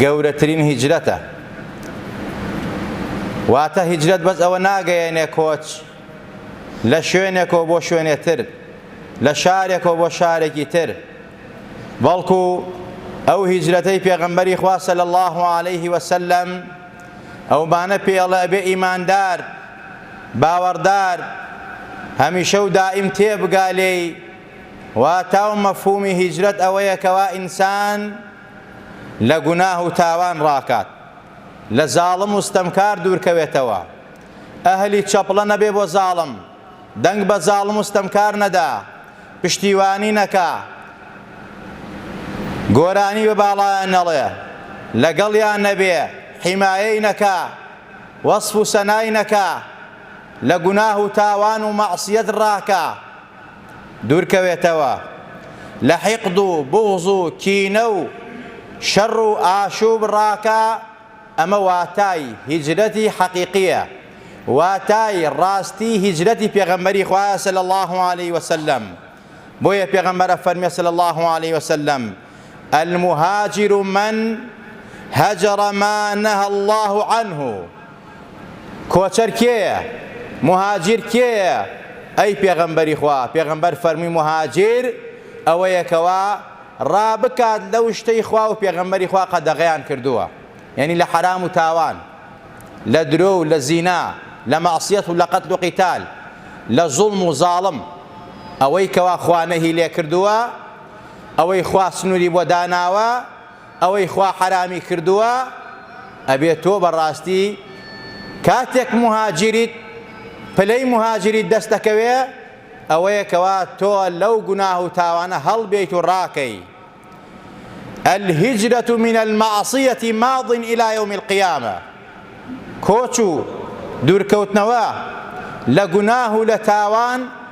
گەورەترین هیجرەتە واتە هیجرەت بەس ئەوە ناگەیەنێ کۆچ لە شوێنێکەوە بۆ شوێنێ تر لە شارێکەوە بۆ شارێکی تر بەڵکو ئەو هیجرەتەی پێغەمبەری خوا صلی الله علیه وسلم ئەومانە پێڵە بێ ئیماندار باوەڕدار هەمیشە و دائیم تێبگا لێی واتا و مەفهومی هیجرەت ئەوەیە کەوا ئینسان لە گوناه و تاوان ڕاکات، لە زاڵم و ستەمکار دوورکەوێتەوە، ئەهلی چەپڵە نەبێ بۆ زاڵم، دەنگ بە زاڵم و ستەمکار نەدا، پشتیوانی نەکا، گۆرانی بە باڵایان نەڵێ، لەگەڵیان نەبێ، حیمایەی نەکا، وەسف و سەنای نەکا، لە گوناه و تاوان و مەعسیەت ڕاکا. دوورکەوێتەوە لە حیقد و بوغز و کینە و شەڕ و ئاشوب ڕاکە ئەمە واتای هیجرەتی حەقیقیە واتای ڕاستی هیجرەتی پێغەمبەری خوایە صلی اللە علیە وسلم بۆیە پێغەمبەر ئەفەرمێ صلی اللە علیە وسلم المهاجر من هجر ما نهی الله عنه کۆچەر کێیە؟ مهاجر کێیە؟ ئەی پێغەمبەری خوا، پێغەمبەر فەرمووی مهاجر ئەوەیە کەوا ڕابکات لەو شتەی خوا و پێغەمبەری خوا قەدەغەیان کردووە یەنی لە حەرام و تاوان لە درۆ و لە زینا لە مەعسیەت و لە قەتل و قیتال لە زوڵم و زاڵم ئەوەی کەوا خوا نەهی لێ کردووە ئەوەی خوا سنوری بۆ داناوە ئەوەی خوا حەرامی کردووە ئەبێ تۆ بەڕاستی کاتێک موهاجریت پلەی موهاجریت دەست دەکەوێ ئەوەیە کەوا تۆ لەو گوناه و تاوانە هەڵبێیت و ڕاکەی الهجرة من المعصية ماض إلى يوم القيامة کۆچ و دوورکەوتنەوە لە گوناه و لە تاوان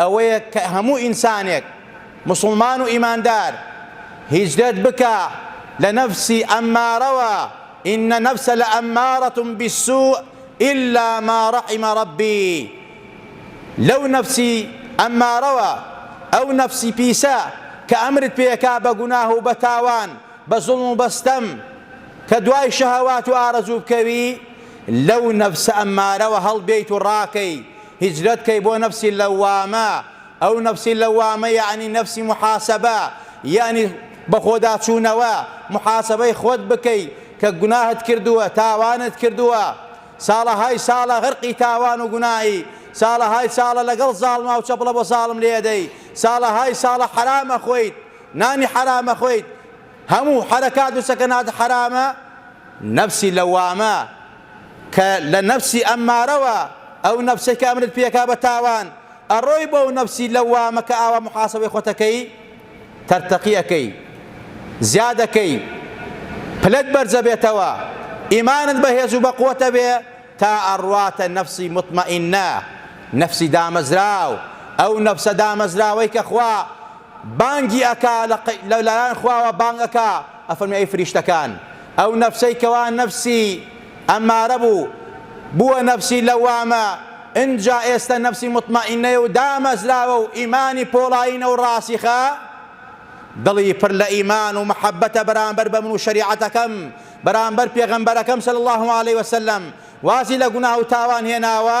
ئەوەیە کە هەموو ئینسانێک موسڵمان و ئیماندار هیجرەت بکا لە نەفسی ئەممارەوە، ان النفس لامارە بالسوء الا ما رحم ربی، لەو نەفسی ئەممارەوە، ئەو نەفسی پیسە کە ئەمرت پێ ئەکا بە گوناه و بە تاوان، بە زوڵم و بە ستەم، کە دوای شەهەوات و ئارەزوو بکەوی، لەو نەفسە ئەممارەوە هەڵبێیت و ڕاکەی، هیجرەت کەی بۆ نەفسی لەوامە ئەو نەفسی لەوامە یەعنی نەفسی موحاسەبە یەعنی بەخۆداچوونەوە موحاسەبەی خۆت بکەی کە گوناهت کردووە تاوانت کردووە ساڵەهای ساڵە غەرقی تاوان و گوناهی ساڵەهای ساڵە لەگەڵ زاڵما و چەپڵە بۆ زاڵم لێدەی ساڵەهای ساڵە حەرام ئەخۆیت نانی حەرام ئەخۆیت هەموو حەرەکات و سەکەنات حەرامە نەفسی لەوامە کە لە نەفسی ئەممارەوە، ئەو نەفسەی کە ئەمرت پێکا بە تاوان، ئەڕۆی بۆو نەفسی لەوامە کە ئاوا موحاسەبەی خۆت ئەکەی، تەرتەقی ئەکەی، زیاد ئەکەی، پلەت بەرزئەبێتەوە، ئیمانت بەهێز و بەقوەت ئەبێ تا ئەڕواتە نەفسی موتمەئینە، نەفسی دامەزراو، ئەو نەفسە دامەزراوەی کە خوا بانگی ئەکا، لە لایەن خواوە بانگ ئەکا، ئەفەرموێ ئەی فریشتەکان ئەو نەفسەی کەوا نەفسی ئەمارە بوو بووە نەفسی لەوامە ئنجا ئێستە نەفسی مطمئنەیە و دامەزراوە و ئیمانی پۆڵایینە و ڕاسیخە دڵی پر لە ئیمان و محەبەتە بەرامبەر بە من و شەریعەتەکەم بەرامبەر پێغەمبەرەکەم صلی اللە علیه وسلم وازی لە گوناه و تاوان هێناوە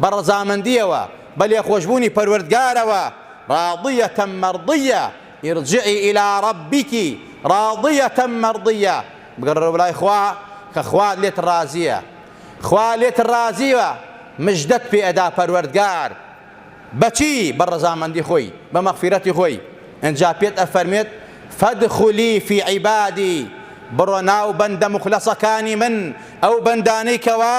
بە ڕەزامەندییەوە، بە لێخۆشبوونی پەروەردگارەوە، راضیە مەڕضیە، ارجعی الی ربک راضیە مەڕضیە، بگەڕێرەوە بەلای خوا کە خوا لێت ڕازییە، خوا لێت ڕازییە، مژدەت پێ ئەدا پەروەردگار، بە چی؟ بە ڕەزامەندی خۆی، بە مەغفیرەتی خۆی، ئنجا پێت ئەفەرموێت، فادخلی فی عبادی، بڕۆ ناو بەندە موخلەسەکانی من، ئەو بەندانەی کەوا،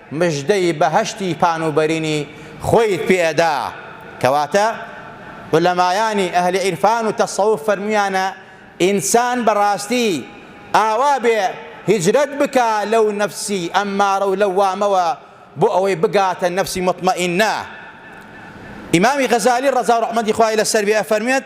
مژدەی بەهەشتی پان و بەرینی خۆیت پێ ئەدا، کەواتە عولەمایانی ئەهلی عیرفان و تەسەوف فەرمویانە ئینسان بەڕاستی ئاوا بێ هیجرەت بکا لەو نەفسی ئەممارە و لەوامەوە بۆ ئەوەی بگاتە نەفسی موتمەئینە ئیمامی غەزالی ڕەزا و ڕەحمەتی خوای لەسەر بێ ئەفەرموێت،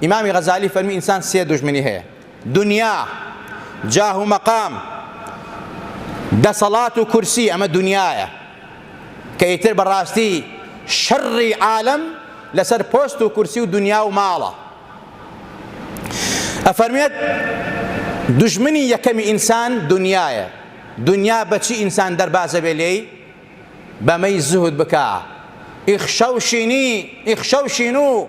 ئیمامی غەزالی فەرمووی ئینسان سێ دوژمنی هەیە، دونیا، جاه و مەقام، دەسەڵات و کورسی، ئەمە دونیایە کە ئیتر بە ڕاستی شەڕی عالەم لەسەر پۆست و کورسی و دونیا و ماڵە. ئەفەرموێت دوژمنی یەکەمی ئینسان دونیایە، دونیا بە چی ئینسان دەربازە بێ لێی؟ بەمەی زوهد بکا، ئیخشەو شینی، ئیخشەو شینو،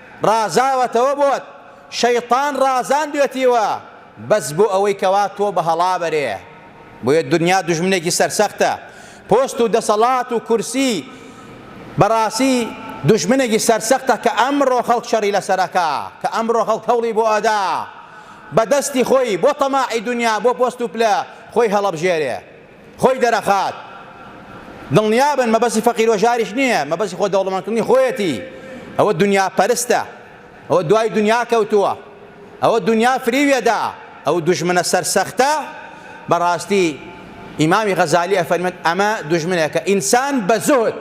ڕازاوەتەوە بۆت شەیتان ڕازاندوێتیوە بەس بۆ ئەوەی کەوا تۆ بە هەڵا بەرێ بۆیە دونیا دوژمنێکی سەرسەختە پۆست و دەسەڵات و کورسی بەڕاسی دوژمنێکی سەرسەختە کە ئەمڕۆ خەڵک شەڕی لەسەرەکا کە ئەمڕۆ خەڵک هەوڵی بۆ ئەدا بە دەستی خۆی بۆ تەماعی دونیا بۆ پۆست و پلە خۆی هەڵەبژێرێ. خۆی دەرەخات دڵنیابن مەبەسی فەقیر و ژاریش نییە مەبەسی خۆ دەوڵەمەندکردنی خۆیەتی ئەوە دنیا پەرستە ئەوە دوای دنیا کەوتووە ئەوە دنیا فریویەدا ئەو دژمنە سەرسەختە بەڕاستی ئیمامی غەزالی ئەفەرمێت ئەمە دژمنێکە ئینسان بە زۆر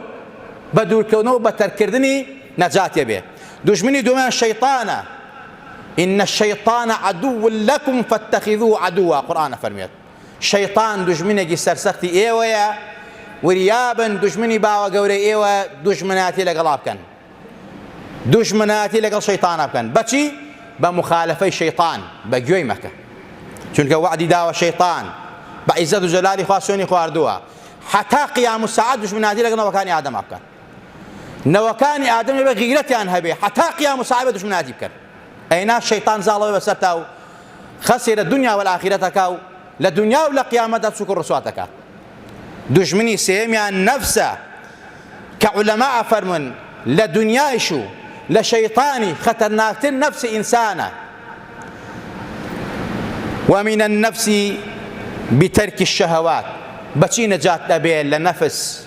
بە دوورکەونەوە بە تەرکردنی نەجاتێ بێ دژمنی دومیان شەیطانە إن الشيطان عدو لكم فاتخذوه عدوا قرآن فرميت شەیتان دوژمنێکی سەرسەختی ئێوەیە وریابن دوژمنی باوە گەورەی ئێوە دوژمناتی لەگەڵا بکەن دوژمناتی لەگەڵ شەیتانە بکەن بەچی بە مخالفەی شەیتان بە گوێی مەکە چونکە وعدی داوە شەیتان بە عیزەت و جەلالی خوا سوێنی خواردووە حتا قیام و سعات دژمناتی لەگە نەوەکانی ئادەم بکەن نەوەکانی ئادەم بە غیرەتیان هەبێ حتا قیام و سعات دژمناتی بکەن ئەینا شەیتان زاڵەوە بەسەرتا و خسر الدنیا والآخرە کا و لە دونیا و لە قیامەتدا سوک و ڕسوات دەکا دوژمنی سێیەمیان نەفسە کە عولەما ئەفەرمون لە دونیایش و لە شەیطانی خەتەرناکتر نەفس ئینسانە ومن النفس بترك الشهوات بەچی نەجات ئەبێ لە نەفس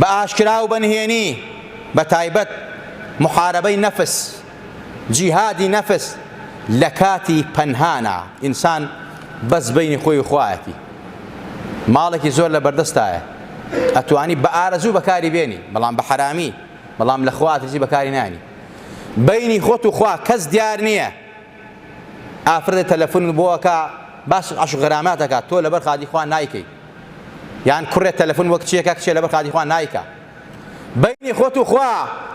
بە ئاشکرا و بە نهێنی، بە تایبەت موحارەبەی نەفس، جیهادی نەفس، لە کاتی پەنهانە، ئینسان بەس بەینی خۆی و خوایەتی، ماڵێکی زۆر لە بەردەستایە، ئەتوانی بە ئارەزوو بەکاری بێنی، بەڵام بە حەرامی، بەڵام لە خوا ئەترسی بەکاری نایەنی. بەینی خۆت و خوا کەس دیار نییە. ئافرەتێ تەلەفونت بۆ ئەکا باسی عەشق غرامات ئەکا تۆ لەبەر قادی خوا نایکەی یان کوڕێ تەلەفون وەک چیەکە کچێ لەبەر قادی خوا نایکا بینی خۆت و خوا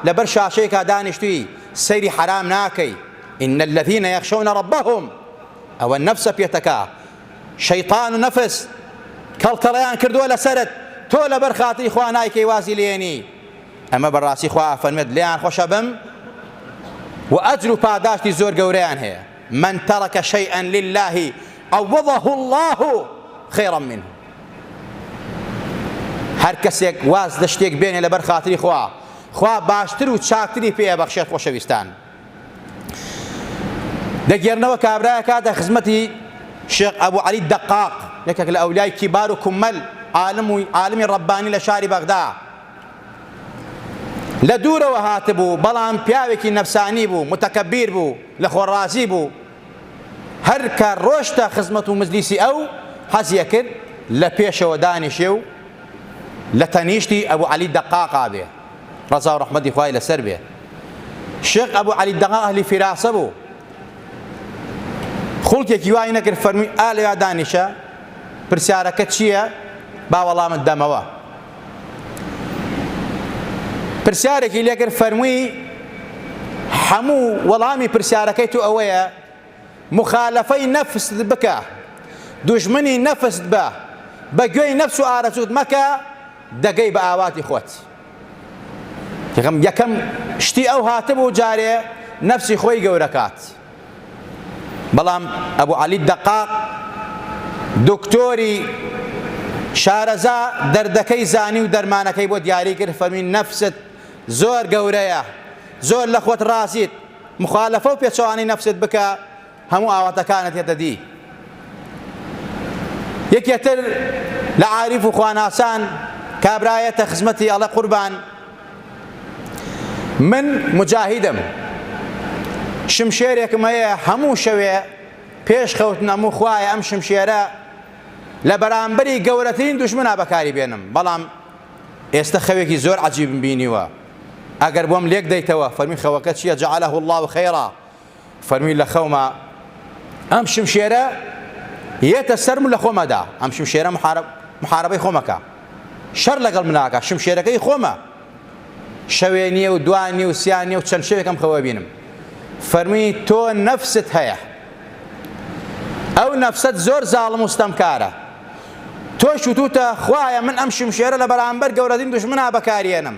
لەبەر شاشەیەکا دانیشتوی سەیری حرام ناکەی ان الذين يخشون ربهم ئەوە نەفسە پێتەکە شەیطان و نەفس کەڵکەڵیان کردووە لەسەرت تۆ لەبەر خاتری خوا نایکەی وازی لێنی ئەمە بەڕاستی خوا ئەفەرمێت لێیان خۆشە بم و ئەجر و پاداشتی زۆر گەورەیان هەیە من ترك شيئا لله عوضه الله خيرا منه هەر کەسێک واز لە شتێک بێنێ لەبەر خاتری خوا خوا باشتر و چاکتری پێ بەخشێت خۆشەویستان دەگێرنەوە کابراە کاتە خزمەتی شێخ ئەبوو علی دەقاق یەکێک لە ئەولای کیبار و کومەل عالم و عالمی ڕەبانی لە شاری بەغدا لە دوورەوە هاتبوو بەڵام پیاوێکی نەفسانی بوو متەکەبیر بوو لە خۆ ڕازی بوو هەر کە ڕۆشتە خزمەت و مجلیسی ئەو حەزیە کرد لە پێشەوە دانیشێ و لە تەنیشتی ئەبوو عەلی دەقاقا بێ ڕەزا و ڕەحمەتی خوای لەسەر بێ شێخ ئەبوو عەلی دەقاق ئەهلی فیراسە بوو خوڵکێکی وای نەکرد فەرمی ئالیا دانیشە پرسیارەکە چییە با وەڵامت دەمەوە پرسیارێکی لێکرد فەرمووی هەموو وەڵامی پرسیارەکەی تو ئەوەیە مخالفەی نەفست بکە دوژمنی نەفست بە بە گوێی نەفس و ئارەزوت مەکە دەگەی بە ئاواتی خۆت یەکەم شتی ئەو هاتبوو جارێ نەفسی خۆی گەورەکات بەڵام ئەبو عەلی الدەقاق دکتۆری شارەزا دەردەکەی زانی و دەرمانەکەی بۆ دیاری کرد فەرمی نەفست زۆر گەورەیە زۆر لە خۆت ڕازیت مخالفە و پێچەوانەی نەفست بکە هەموو ئاواتەکانت هێتە دی یەکێتر لە عاریف و خواناسان کابرایەتە خزمەتی ئەڵە قوربان من موجاهیدم شمشێرێکم هەیە هەموو شەوێ پێش خەوتن ئەموو خوایە ئەم شمشێرە لە بەرامبەری گەورەترین دوشمنا بەکاری بێنم بەڵام ئێستا خەوێکی زۆر عجیبم بینیوە ئەگەر بۆم لێک دەیتەوە فەرمی خەوەکە چییە جعله الله خیرا فەرمی لە خەوما ئەم شمشێرە یەتە سەرم و لە خۆمەدا ئەم شمشێرە محارب محاربەی خۆمەکە شەر لەگەڵ مناکە شمشێرەکەی خۆمە شەوێ نییە و دوان نیە و سیان نیە و چەند شەوێکم خەوە بینم فەرمی تۆ نەفست هەیە ئەو نەفسەت زۆر زاڵم و ستەمکارە تۆ شتوتە خوایە من ئەم شمشێرە لە بەرامبەر گەورەترین دژمنا بەکاریێنم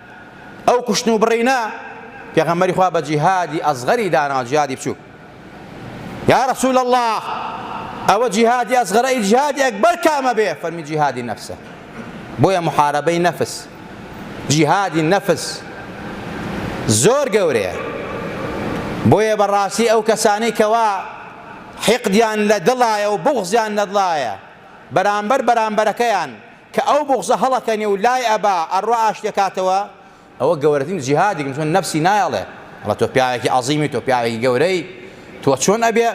ئەو کوشتن و بڕینە پێغەمبەری خوا بە جیهادی ئەسغەری داناوە جیهادی بچووک یا رسول الله ئەوە جیهادی ئەسغەرە ئی جیهادی ئەکبەر کامە بێ فەرمی جیهادی نەفسە بۆیە محاربەی نەفس جیهادی نەفس زۆر گەورەیە بۆیە بەڕاستی ئەو کەسانەی کەوا حقدیان لە دڵایە و بغزیان لە دڵایە بەرامبەر بەرامبەرەکەیان کە ئەو بوغزە هەڵەکەنێ و لای ئەبا ئەڕوا ئاشتێ کاتەوە، ئەوە گەورەترین جیهادی کردوە، نەفسی نایە ئەڵێ، ئەڵێ تۆ پیاوێکی عەزیمی، تۆ پیاوێکی گەورەی، تۆ چۆن ئەبێ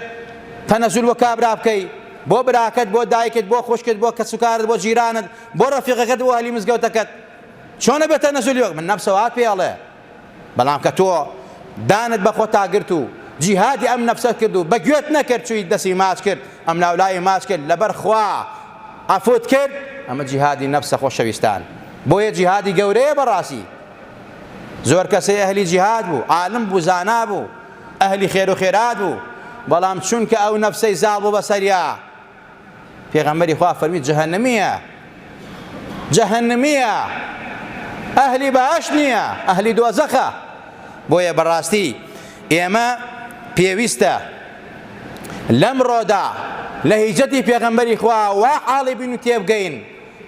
تەنەزول بۆ کابرا بکەی، بۆ براکەت، بۆ دایکت، بۆ خوشکت، بۆ کەس و کارت، بۆ جیرانت، بۆ ڕەفیقەکەت، بۆ ئەهلی مزگەوتەکەت، چۆن ئەبێ تەنەزولی بکەی، من نەفسە وات پێ ئەڵێ. بەڵام کە تۆ دانت بە خۆتا گرت و جیهادی ئەم نەفسەت کرد و بە گوێت نەکرد چوویت دەستی ماچ کرد ئەم لاولای ماچ کرد لەبەر خوا عەفوت کرد ئەمە جیهادی نەفسە خۆشەویستان بۆیە جیهادی گەورەیە بەڕاستی زۆر کەسێ ئەهلی جیهاد بوو عالم بوو زانا بوو ئەهلی خێر و خێرات بوو بەڵام چونکە ئەو نەفسەی زاڵ بوو بەسەریا پێغەمبەری خوا فەرمی جەهەنمیە جەهەنمیە ئەهلی بەهەش نییە ئەهلی دۆزەخە بۆیە بەڕاستی ئێمە پێویستە لەمڕۆدا لە هیجەتی پێغەمبەری خوا وا حاڵی بین و تێبگەین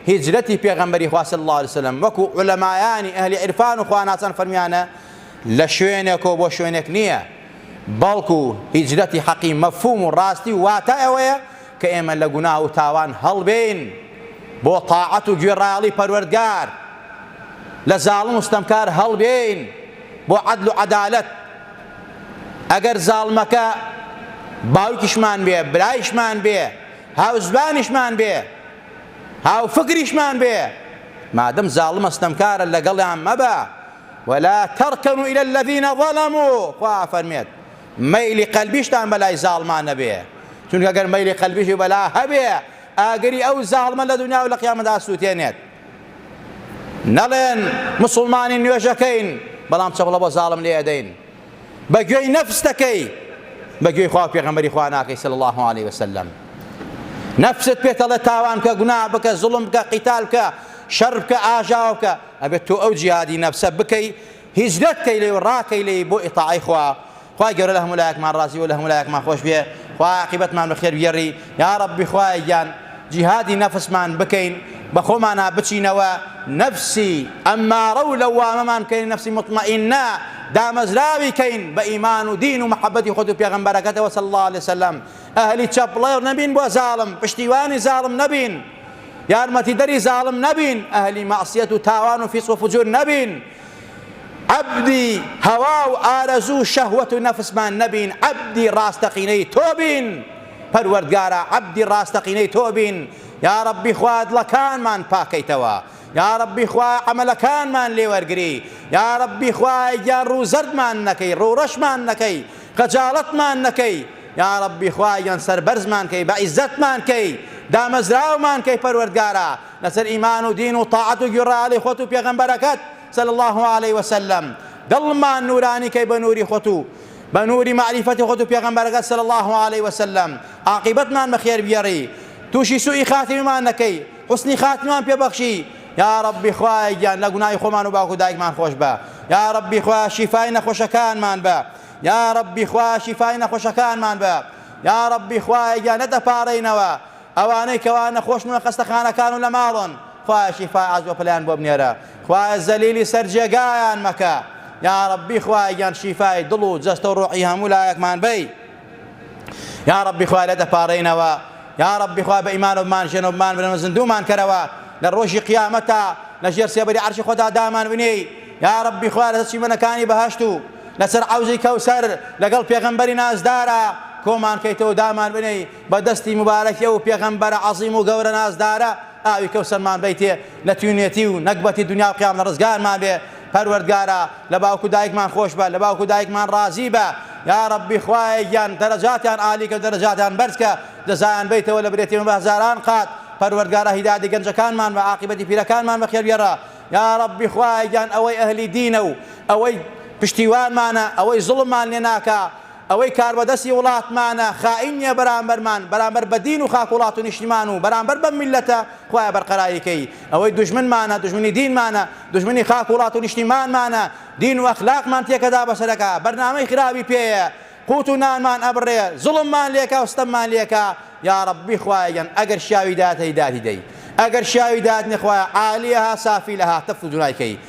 هیجرەتی پێغەمبەری خوا صلی الله علیه وسلم وەکو علەمایانی ئەهلی عرفان و خواناسان فەرمیانە لە شوێنێک و بۆ شوێنێک نییە بەڵکو هیجرەتی حەقی مەفهوم و ڕاستی و واتا ئەوەیە کە ئێمە لە گوناه و تاوان هەڵبێین بۆ تاعەت و گوێڕایەڵی پەروەردگار، لە زاڵم و ستەمکار هەڵبێین بۆ عەدل و عەدالەت، ئەگەر زاڵمەکە باوکیشمان بێ، برایشمان بێ، هاوزمانیشمان بێ، هاوفکریشمان بێ، مادەم زاڵمە ستەمکارە لەگەڵیان مەبە، ولا ترکنوا الی الذین ظلموا خوا ئەفەرمێت مەیلی قەلبیشتان بەلای زاڵمان نەبێ چونکە گەر مەیلی قەلبیشی بەلا هەبێ ئاگری ئەو زاڵمە لە دنیا و لە قیامەدا سووتێنێت نەڵێن مسلمانی نوێژەکەین بەڵام چەپڵە بۆ زاڵم لێ ئەدەین بە گوێی نەفس دەکەی بە گوێی خوا پێغەمبەری خوا ناکەی صلی الله علیه وسلم نەفست پێتەڵێ تاوان کە گونا بکە زوڵم بکە قیتال بکە شەر بکە ئاژاو بکە ئەبێت تۆ ئەو جیهادی نەفسە بکەی هیجرەت کەی لێ و ڕاکەی لێی بۆ ئیتاعەی خوا خوای گەورە لە هەموو لایەکمان ڕازی و لە هەموو لایەکمان خۆش بێ خوا عاقبەتمان بەخێر بگێڕی یا ڕەبی خوایە گیان جیهادی نەفسمان بکەین بە خۆمانا بچینەوە نەفسی ئەممارە و لەوامەمان کەین نەفسی مطمئنە دامەزراوی کەین بە ئیمان و دین و محەبەتی خۆت و پێغەمبەرەکەتەوە صلی الله علیه وسلم ئەهلی چەپڵەر نەبین بۆ زاڵم پشتیوانی زاڵم نەبین یارمەتیدەری زاڵم نەبین ئەهلی مەعسیەت و تاوان و فیسق و فجور نەبین عەبدی هەوا و ئارەزوو و شەهوەت و نەفسمان نەبین عەبدی ڕاستەقینەی تۆ بین پەروەردگارا عەبدی ڕاستەقینەی تۆ بین یا ڕەبی خوا دڵەکانمان پاکەیتەوە یا ڕەبی خوا عەمەلەکانمان لێوەرگری یا ڕەبی خوایە گیان ڕوو زەردمان نەکەی ڕوو ڕەشمان نەکەی خەجاڵەتمان نەکەی یاڕەبی خوای گەن سەربەرزمان کەی بەعیزەتمان کەی دامەزراومان کەی پەروەردگارا لەسەر ئیمان و دین و تاعەت و گوێڕایەڵی خۆت و پێغەمبەرەکەت صلی اللە علیە وسلم دڵمان نورانی کەی بە نوری خۆت و بە نوری مەعریفەتی خۆت و پێغەمبەرەکەت صلی اللە علیە وسلم عاقیبەتمان بەخێر بگێڕی تووشی سوئی خاتیمەمان نەکەی حوسنی خاتمان پێ بەخشی یاڕەبی خوایە گیان لە گوناهی خۆمان و باوک و دایکمان خۆشبە یاڕەبی خوایە شیفای نەخۆشەکانمان بە یاڕەبی خوایە شیفای نەخۆشەکانمان بە یاڕەبی خوایە گیان نەدەپارێینەوە ئەوانەی کەوا نەخۆشن و خەستەخانەکان و لە ماڵن خوایە شیفای عەز و پلیان بۆ بنێرە خوایە زەلیلی سەر جێگایان مەکە یاڕەبی خوایە گیان شیفای دڵ و جەستە و ڕۆحی هەموو لایەکمان بەی یا ربی خوا لێ دەپارێینەوە یا ربی خوا بە ئیمانەوە بمان ژێنەوە بمان برەوە زندومان کەرەوە لە ڕۆژی قیامەتا لە ژێر سێبەری عەرشی خۆدا دامان بنێی یا ربی خوا لە چیمەنەکانی بەهەشت و لەسەر عەوزی کەوسەر لەگەڵ پێغەمبەری نازدارە کۆمان کەیتەوە دامان بنێی بە دەستی مبارەکی ئەو پێغەمبەرە عەظیم و گەورە نازدارە ئاوی کەوسەرمان بیتێ لە تینوێتی و نەگبەتی دونیا و قیامەت ڕزگارمان بێ پەروەردگارا لە باوک و دایکمان خۆشبە لە باوک و دایکمان ڕازی بە یاڕەبی خوایە گیان دەرەجاتیان عالی کە دەرەجاتیان بەرز کە جەزایان بەیتەوە لە برێتیمە بە هەزاران قات پەروەردگارا هیدایەتی گەنجەکانمان بە عاقیبەتی پیرەکانمان بە خێرگێڕە یاڕەبی خوایە گیان ئەوەی ئەهلی دینە و ئەوەی پشتیوانمانە ئەوەی زوڵممان لێ ناکا ئەوەی کاربەدەستی وڵاتمانە خائین نیە بەرامبەرمان، بەرامبەر بە دین و خاک وڵات و نیشتیمان و بەرامبەر بەم میللەتە، خوایە بەرقەراری کەی، ئەوەی دوژمنمانە دوژمنی دینمانە، دوژمنی خاک وڵات و نیشتیمانمانە، دین و ئەخلاقمان تێکەدا بەسەرەکا، بەرنامەی خراپی پێیە، قوت و نانمان ئەبڕێ، زوڵممان لێکا و ستەممان لێکا، یاڕەببی خوایە گیان ئەگەر شیاوی داتەی دادی دەی، ئەگەر شیاوی داتنێ خوایە عالیەها سافیلەها تەفتو دونای کەی،